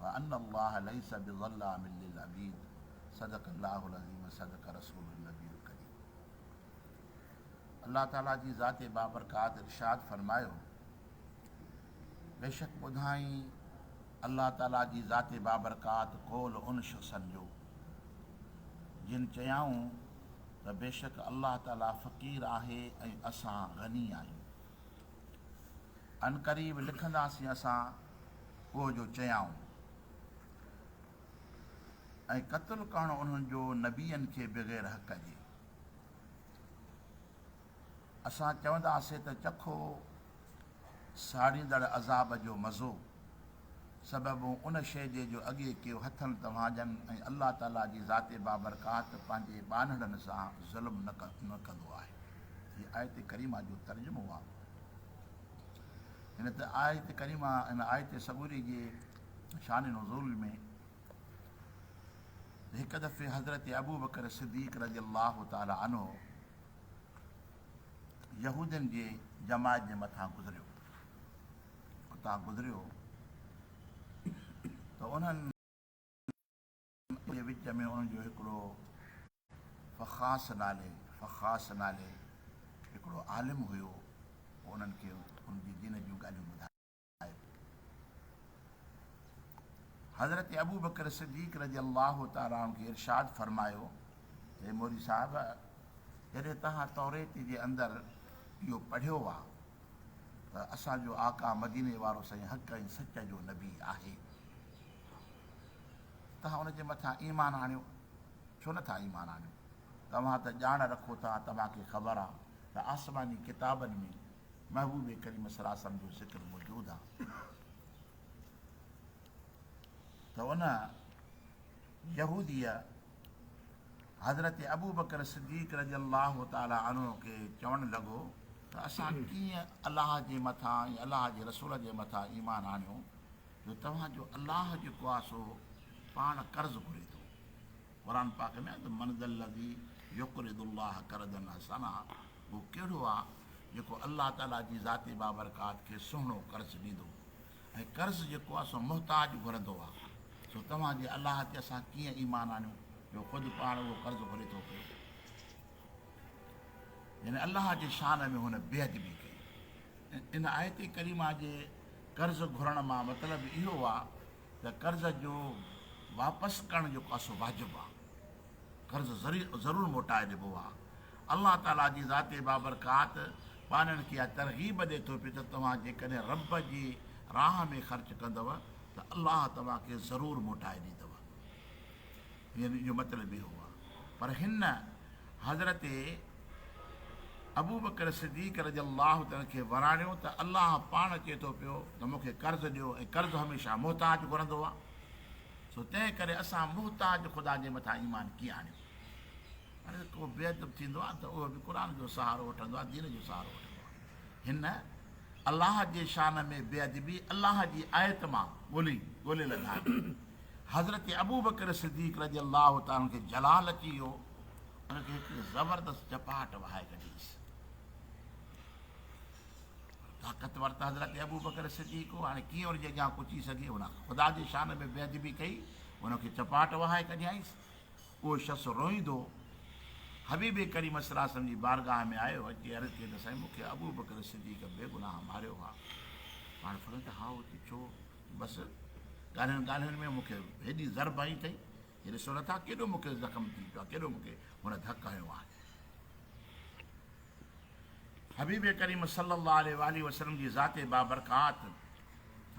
وان الله ليس بظلام للعبيد صدق الله العظيم صدق رسوله النبي الڪريم الله تعالي جي ذات بابرڪات ارشاد فرمايو بيشڪ ٻڌائين الله تعالي جي ذات بابرڪات قول ان شخصن جو جن چيائون ته بيشڪ الله تعالي فقير آهي ۽ اسان غني آهيون عنقريب لکنداسين اسان اهو جو چيائون ۽ قتل ڪرڻ انهن جو نبين کي بغير حق جي. اسان چونداسين ته چکو ساڙيندڙ عذاب جو مزو. سببون ان شيء جي جو اڳي ڪيو هٿن توهان جن ۽ الله تعالي جي ذات بابرڪات پنهنجي ٻانهڙن سان ظلم نه ڪندو آهي. هي آيت ڪريمه جو ترجمو آهي. هن آيت ڪريمه هن آيت سڳوري جي شان نزول ۾ هڪ دفعي حضرت ابوبڪر صديق رضي الله تعالي عنه يهودين جي جماعت جي مٿان گذريو اتان گذريو ته انهن جي وچ ۾ ان جو هڪڙو فخاص نالي فخاص نالي هڪڙو عالم هيو انهن کي ان جي دين جون ڳالهيون ٻڌايو حضرت ابو بکر صديق رضي الله تعالٰي عنه کي ارشاد فرمايو ته مولوي صاحب جڏهن تهان توريت جي اندر اهو پڙهيو آ ته اسان جو آقا مديني وارو سائين حق ۽ سچ جو نبي آهي. توهان ان جي مٿان ايمان آڻيو، ڇو نه ٿا ايمان آڻيو؟ توهان ته ڄاڻ رکو ٿا، توهان کي خبر آ ته آسماني ڪتابن ۾ محبوب ڪريم صلي الله عليه وسلم جو ذڪر موجود آ ته ان يهوديء حضرت ابوبڪر صديق رضي الله تعالٰي عنه کي چوڻ لڳو ته اسان ڪيئن الله جي مٿان ۽ الله جي رسول جي مٿان ايمان آڻيو جو توهان جو الله جيڪو آهي سو پاڻ قرض گهري ٿو. قرآن پاڪ ۾ آهي ته من ذا الذي يقرض الله قرضا حسنا اهو ڪهڙو آهي جيڪو الله تعالٰي جي ذات بابرڪات کي سهڻو قرض ڏيندو ۽ قرض جيڪو آهي سو محتاج گهرندو آهي، سو توهان جي الله تي اسان ڪيئن ايمان آڻيون جو خود پاڻ اهو قرض گهري ٿو پيو. يعني الله جي شان ۾ هن بي ادبي ڪئي. ان آيت ڪريمه جي قرض گهرڻ مان مطلب اهو آهي ته قرض جو واپس ڪرڻ جيڪو آهي سو واجب آهي. قرض ضرور موٽائي ڏبو آ. الله تعاليٰ جي ذات بابرڪات ٻانهن کي اها ترغيب ڏي ٿو پيو ته توهان جيڪڏهن رب جي راهه ۾ خرچ ڪندؤ ته الله توهان کي ضرور موٽائي ڏيندؤ. يعني ان جو مطلب اهو آ. پر هن حضرت ابوبڪر صديق رضي الله تعالٰي عنه کي وراڻيو ته الله پاڻ چئي ٿو پيو ته مون کي قرض ڏيو ۽ قرض هميشه محتاج گهرندو آ. سو تنهن ڪري اسان محتاج خدا جي مٿان ايمان ڪيئن آڻيون؟ پر ڪو بي ادب ٿيندو آهي ته اهو به قرآن جو سهارو وٺندو آهي، دين جو سهارو وٺندو آهي. هن، الله جي شان ۾ بي ادبي، الله جي آيت مان ڳولي ڳولي لڌائين. حضرت ابوبڪر صديق رضي الله تعالٰي عنه کي جلال اچي ويو، ان کي هڪڙي زبردست چپاٽ وهائي ڪڍيس. طاقتور ته حضرت ابوبڪر صديق هو، هاڻي ڪيئن ان جي اڳيان پچي سگهي؟ هن خدا جي شان ۾ بيادبي ڪئي، ان کي چپاٽ وهائي ڪڍيائينس. اهو شخص روئيندو حبيب ڪريم صلي الله عليه وسلم جي بارگاهه ۾ آيو، اچي عرض ڪئي ته سائين مون کي ابوبڪر صديق بيگناهه ماريو ها. پاڻ فرمايو ته هائو ته ڇو بس ڳالهين ڳالهين ۾ مون کي هيڏي ضرب هنئي اٿئي جو ڏسو نٿا ڪيڏو مون کي زخم ٿي پيو آهي، ڪيڏو مون کي هن ڌڪ هنيو آهي. حبيب ڪريم صلّي اللّٰه عليه واٰله وسلّم جي ذات بابرڪات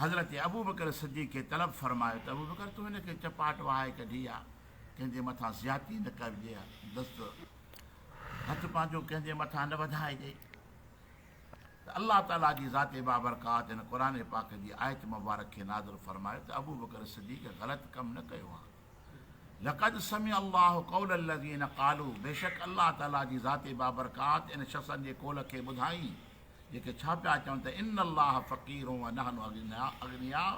حضرت ابوبڪر صدّيق کي طلب فرمايو ته ابوبڪر تون هن کي چپاٽ وهائي ڪڍي آ، ڪنهن جي مٿان زيادتي نه ڪرجي ها، دست هٿ پنهنجو ڪنهن جي مٿان نه وڌائجي ته الله تعالٰي جي ذات بابرڪات هن قرآن پاڪ جي آيت مبارڪ کي نازل فرمايو ته ابوبڪر صدّيق غلط ڪم نه ڪيو آ. لقد سمع الله قول الذين قالو بيشڪ الله تعالي جي ذات بابرڪات ان شخصن جي قول کي ٻڌائين جيڪي ڇا پيا چون ته ان الله فقير ونحن اغنياء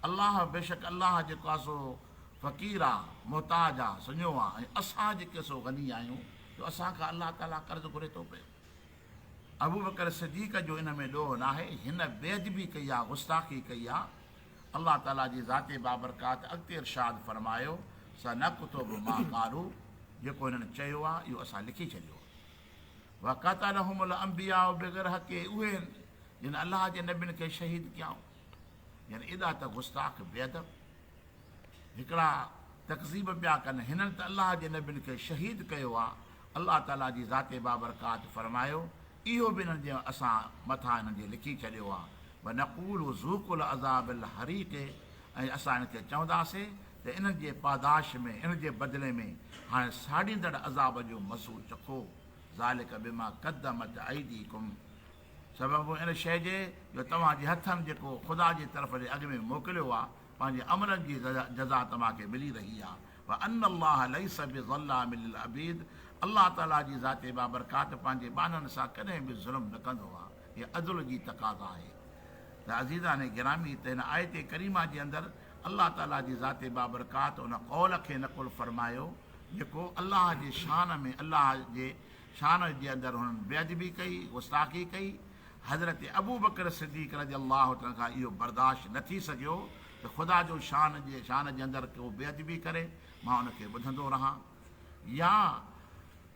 الله بيشڪ الله جيڪو آهي سو فقير آهي محتاج آهي سڃو آهي ۽ اسان جيڪي سو غني آهيون جو اسان کان الله تعالي قرض گهري ٿو پيو ابوبڪر صديق جو ان ۾ ڏوهه ناهي هن بيعدبي ڪئي آهي غستاخي ڪئي آهي الله تعالي جي ذات بابرڪات اڳتي ارشاد فرمايو، سنڪتب ما قالو، جيڪو هنن چيو آهي اهو اسان لکي ڇڏيو آهي. وقتلهم الانبياء بغير حق، اهي آهن جن الله جي نبين کي شهيد ڪيائون. يعني ايڏا ته گستاخ بي ادب هڪڙا تڪذيب پيا ڪن، هنن ته الله جي نبين کي شهيد ڪيو آهي. الله تعاليٰ جي ذات بابرڪات فرمايو، اهو به انهن جي اسان مٿان انهن جي لکي ڇڏيو آهي، ونقول ذوقوا العذاب الحريق ۽ اسان انهن کي چونداسين ته انهن جي پاداش ۾ ان جي بدلي ۾ هاڻي ساڙيندڙ عذاب جو مزو چکو، ذلڪ بما قدمت ايديڪم سبب ان شيء جي جو توهان جي هٿن جيڪو خدا جي طرف ڏي اڳ ۾ موڪليو آهي، پنهنجي عملن جي جزا توهان کي ملي رهي آهي وان الله ليس بظلام للعبيد الله تعاليٰ جي ذات بابرڪات پنهنجي ٻانهن سان ڪڏهن به ظلم نه ڪندو آ هي عدل جي تقاضا آهي ته عزيزان گرامي هت هن آيت ڪريمه جي اندر الله تعاليٰ جي ذات بابرڪات ان قول کي نقل فرمايو جيڪو الله جي شان ۾ الله جي شان جي اندر هنن بي ادبي ڪئي گستاخي ڪئي حضرت ابوبڪر صديق رضي الله عنه کان اهو برداشت نه ٿي سگهيو ته خدا جو شان جي شان جي اندر ڪو بي ادبي ڪري مان ان کي ٻڌندو رهان يا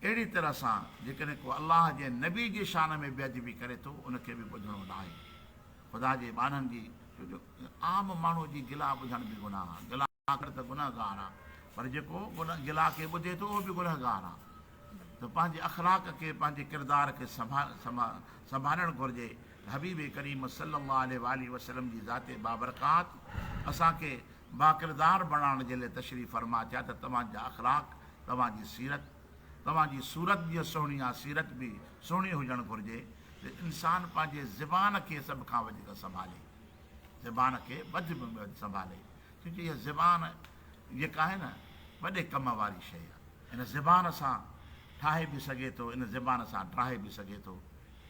اهڙي طرح سان جيڪڏهن ڪو الله جي نبي جي شان ۾ بي ادبي ڪري ٿو ان کي به ٻڌڻو ناهي خدا جي ٻانهن جي ڇو جو عام ماڻهو جي گلا ٻڌڻ به گناهه آهي. آخر ته گنهگار آ پر جيڪو گلا کي ٻڌي ٿو اهو به گنهگار آ ته پنهنجي اخلاق کي پنهنجي ڪردار کي سنڀالڻ گهرجي ته حبيب ڪريم صلي الله عليه واٰله وسلم جي ذات بابرڪات اسان کي باڪردار بڻائڻ جي لئه تشريف فرما ٿيا ته توهان جا اخلاق توهان جي سيرت توهان جي صورت جيئن سهڻي آ سيرت به سهڻي هجڻ گهرجي ته انسان پنهنجي زبان کي سڀ کان وڌيڪ سنڀالي زبان کي وڌ ۾ وڌ سنڀالي ڇو جو اها زبان جيڪا آهي نه وڏي ڪم واري شيء آهي. ان زبان سان ٺاهي به سگهي ٿو، ان زبان سان ڊاهي به سگهي ٿو.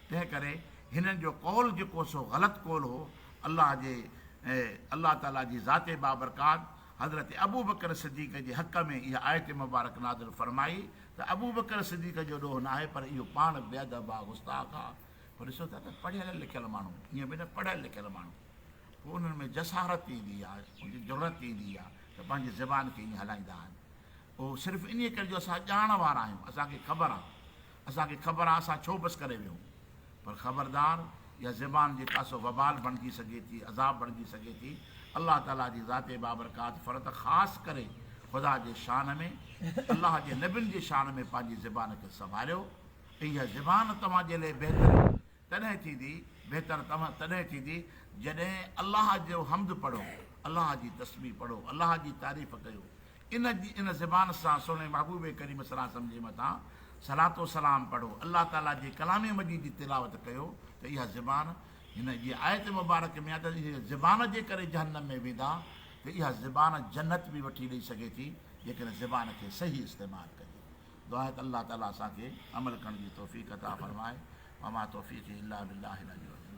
تنهن ڪري هنن جو قول جيڪو سو غلط قول هو. الله جي الله تعاليٰ جي ذات بابرڪات حضرت ابوبڪر صديق جي حق ۾ اها آيت مبارڪ نازل فرمائي ته ابوبڪر صديق جو ڏوهه ناهي پر اهو پاڻ بي ادب آ، گستاخ آ. پوء ڏسو ٿا ته پڙهيل لکيل ماڻهو ائين به نه پڙهيل لکيل ماڻهو پوء انهن ۾ جسارت ايندي آهي ان جي جرئت ايندي آهي ته پنهنجي زبان کي ائين هلائيندا آهن اهو صرف انهي ڪري جو اسان ڄاڻ وارا آهيون اسان کي خبر آهي اسان کي خبر آهي اسان ڇو بس ڪري ويهون پر خبردار اها زبان جيڪا سو وبال بڻجي سگهي ٿي عذاب بڻجي سگهي ٿي الله تعالي جي ذات بابرڪات فرت خاص ڪري خدا جي شان ۾ الله جي نبين جي شان ۾ پنهنجي زبان کي سنڀاليو اها زبان توهان جي لئه بهتر تڏهن ٿيندي، بهتر توهان تڏهن ٿيندي، جڏهن الله جو حمد پڙهو، الله جي تسبيح پڙهو، الله جي تعريف ڪيو، ان جي ان زبان سان سهڻي محبوب ڪريم صلعم جي مٿان صلات و سلام پڙهو، الله تعاليٰ جي ڪلام مجيد جي تلاوت ڪيو ته اها زبان هن جي آيت مبارڪ ۾ آهي ته زبان جي ڪري جهنم ۾ ويندا ته اها زبان جنت به وٺي ڏئي سگهي ٿي جيڪڏهن زبان کي صحيح استعمال ڪجي. دعا آهي ته الله تعالي اسان کي عمل ڪرڻ جي توفيق عطا فرمائي وما توفيقي الا بالله العلي العظيم.